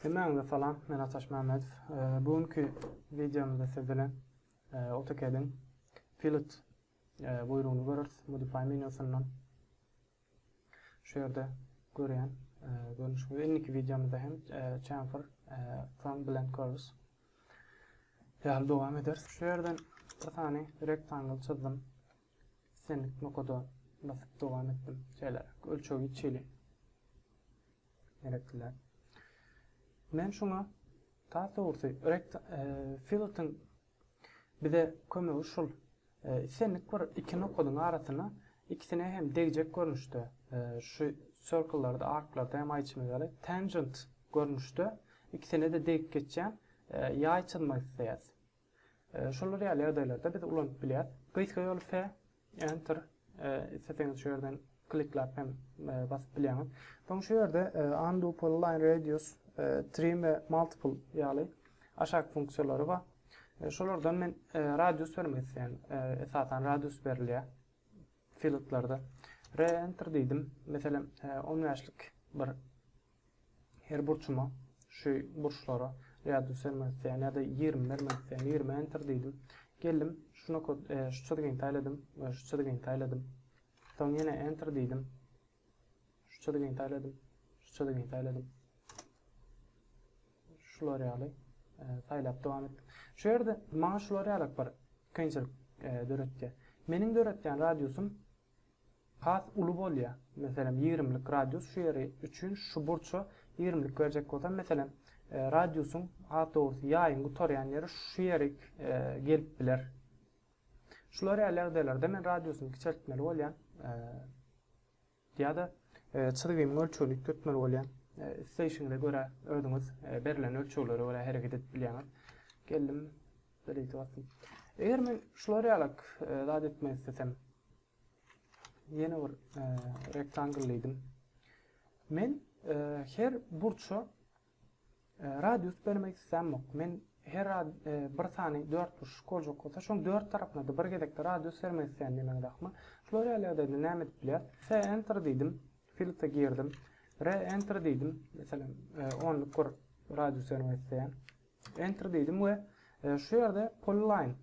Hemmäňize salam, men Ataş Mämmedow. Bu günki wideomyzda siz bilen AutoCAD-iň Fillet buýrugyny göreris, Modify menýusyndan. Şu ýerde görýän görnüşimiz. Indiki wideomyzda hem chamfer from bilen görüris. Ýaly dowam ederis. Şu ýerden bir sany rektangle çyzdym. Islendik nokada basyp dowam etdim. Şeýleräk ölçegi çili gerekdiler. Men şuňa tas dogrusy rekt filtr bize kömegi şul. Islendik bir iki nokadyň arasyna ikisine hem degjek görnüşde şu circle-larda, ark-larda hem aýtşyna ýaly tangent görnüşde ikisine-de degip geçýän ýaý çyzmak isleýäs. Şolar ýaly ýagdaýlarda biz ulanyp bilýäs. Gysga ýoly F, Enter. Isleseňiz şu ýerden klikläp hem basyp bilýäňiz. Soň şu ýerde Undo, Polyline, Radius, Trim we Multiple ýaly aşak funksiýalary bar. Şolardan men radius bermek isleýän. Esasan radius berilýär fieldlerde. Re-enter diýdim. Meselem, 15-lik bir Her burçuma şu burçlara radius bermek isleýän ýa-da ýigrimi bermek isleýän ýigrimi enter diýdim. Geldim şu nokat şu çyzgyny saýladym we şu çyzgyny saýladym. Soň ýene enter diýdim. Şu çyzgyny saýladym, şu çyzgyny saýladym. Şular ýaly saýlap dowam etdim. Şu ýerde maňa şular ýaly bir kynçylyk döretdi. Meniň döretýän radiusym Has uly bolýa, meselem, ýigrimlik radius şu ýeri üçin şu burça ýigrimlik berjek bolsam, meselem, radiusyň, has dogrusy, ýaýyň gutarýan ýeri şu ýerik gelip biler. Şular ýaly ýagdaýlarda men radiusyny kiçeltmeli bolýan ýa-da çyzgymyň ölçegini üýtgetmeli bolýan. Isleýşiňize görä özüňiz berlen ölçeglere görä hereket edip bilýäňiz. Geldim. Bereketi bolsun. Eger men şular ýalak zat etmek istesem, ýene bir rektangl diýdim. Men her burça radius bermek islämok. Men her bir sany dört burçluk boljak bolsa, şoň dört tarapyna da bir gezekde radius bermek isleýän diýmek dakmy? Şular ýaly ýagdaýda näme edip bilýär? F enter diýdim, filtre girdim. R enter diýdim. Meselem, onluk bir radius bermek isleýän. Enter diýdim we şu ýerde polyline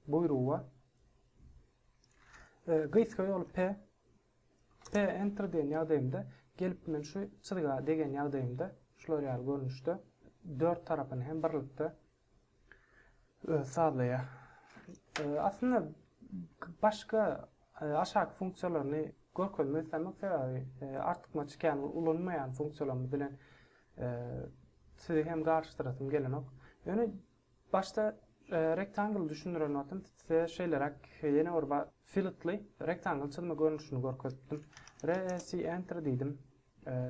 buýrugy bar. Gysga ýoly P. P enter diýen ýagdaýymda gelip men şu çyzga degen ýagdaýymda şular ýaly görnüşde dört tarapyny hem birlikde sazlaýar. Aslynda başga Aşaky funksiýalaryny görkezmek islemek sebäbi artykmaç çykýan ulanmaýan funksiýalarymyz bilen sizi hem garyşdyrasym gelenok. Ýöne başda rektangly düşündiren wagtym size şeýleräk ýene bir filtly rektangly çyzma görnüşini görkezipdim. REC enter diýdim.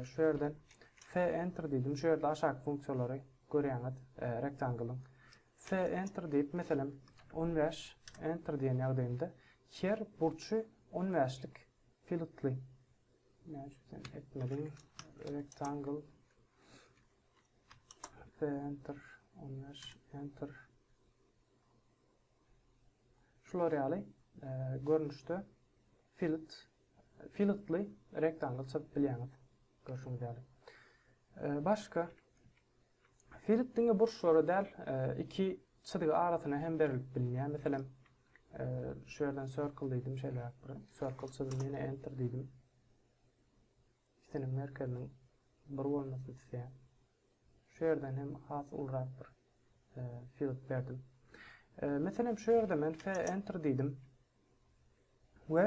Şu ýerden F enter diýdim. Şu ýerde aşaky funksiýalary görýäňiz rektanglyň. Se Enter diýip, meselem, on bäş Enter diýen ýagdaýymda her burçy on bäşlik pilotly etmeliň Rectangle Se Enter on bäş Enter Şular ýaly görnüşde filet filetly Rectangle çyzyp bilýäňiz. Görşüňiz ýaly. Başga Filip diňe burçlara däl, iki çyzgy arasyna hem berilip bilinýär. Meselem, şu ýerden circle diýdim, şeýleräk bir circle çyzdym, ýene enter diýdim. Ikisiniň merkeziniň bir bolmasyny isleýär. Şu ýerden hem has ulurak bir e, field berdim. E, meselem şu ýerde men enter diýdim. We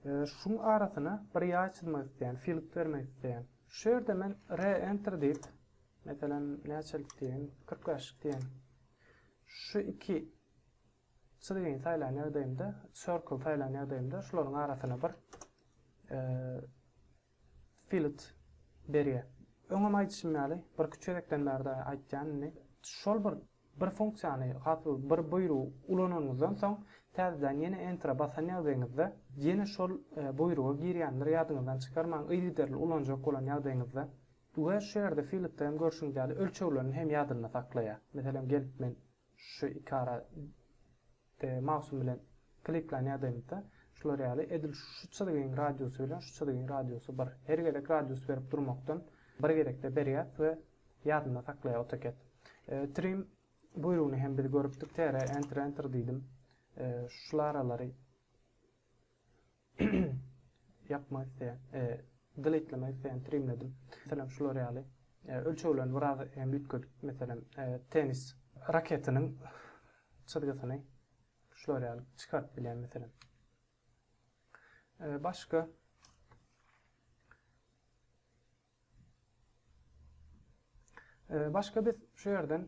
şuň arasyna bir ýaý çyzmak isleýän, filk bermek isleýän. Şu ýerde men re enter diýip, meselem, näçelik diýeýin, kyrk bäş diýeýin. Şu iki çyzgyny saýlan ýagdaýymda, circle saýlan ýagdaýymda şularyň arasyna bir Filt berýär. Öňem aýdyşym ýaly, birki çözekden bärde aýtýan indi. Şol bir bir funksiýany, hasyl bir buýrugy ulananyňyzdan soň, täzeden ýene Enter-e basan ýagdaýyňyzda, ýene şol buýruga girýändir, ýadyňyzdan çykarmaň, yzygiderli ulanjak bolan ýagdaýyňyzda. We şu ýerde Filt-de hem görşüňiz ýaly, ölçeglerini hem ýadynda saklaýar. Meselem, gelip men. Şu iki ara de mausym bilen kliklan ýadaýmyzda, şular ýaly, edil şu çyzgyň radiusy bilen şu çyzgyň radiusy bir. Her gezek radius berip durmakdan bir gezekde berýäs we ýadynda saklaýar AutoCAD. Trim buýrugyny hem biz görüpdik, TR, Enter, Enter diýdim. Şul aralary. Ýapmak isleýän, deletelämek isleýän trimledim. Meselem, şular ýaly. Ölçeglerini biraz hem üýtgedip, meselem, tennis raketiniň çyzgysyny şular ýaly çykaryp bilýän, meselem. Başga Başga biz şu ýerden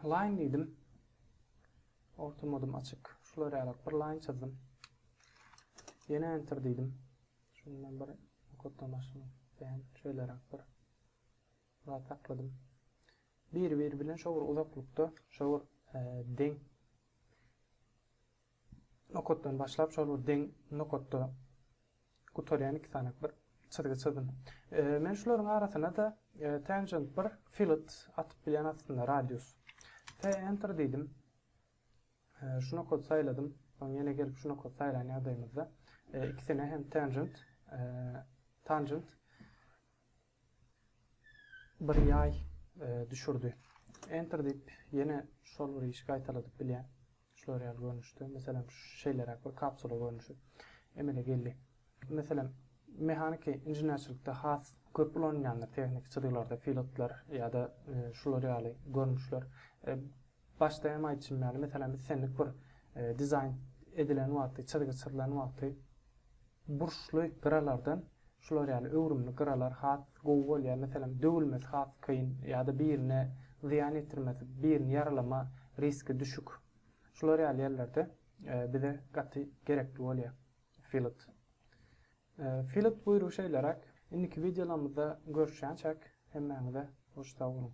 line diýdim. Orta modum açyk. Şular ýaly bir line çyzdym. Ýene enter diýdim. Şundan bir koddan başlamak isleýän şeýleräk bir zat sakladym. Bir-biri bilen şowur uzaklykda, şowur e, deň. Nokatdan başlap şol bir deň nokatda gutarýan iki sany bir çyzgy çyzdym. Men şularyň arasyna-da tangent bir filet atyp bilýän aslynda radius. Fe enter diýdim. Şu nokaty saýladym. Soň ýene gelip şu nokaty saýlan ýagdaýymyzda ikisine hem tangent tangent Bir ýaý düşürdi. Enter diýip ýene şol bir işi gaýtaladyp bilýän. Şular ýaly görnüşde. Meselem şeýleräk bir kapsula görnüşi emele geldi. Meselem mehaniki inženerçilikde has köp ulanylýandyr tehniki çyzgylarda pilotlar ýa-da şular ýaly görnüşler. Başda hem aýtşym ýaly, meselem, islendik bir dizaýn edilen wagty, çyzgy çyzylan wagty burçly gyralardan şular ýaly öwrümli gyralar has gowy bolýar. Meselem, döwülmesi has kyn ýa-da birine zyýan ýetirmesi, birini ýaralama riski düşük. Şular ýaly ýerlerde bize gaty gerekli bolýar fillet. Fillet buýrugy şeýleräk. Indiki wideolarymyzda görüşýänçäk, hemmäňize hoş sag boluň!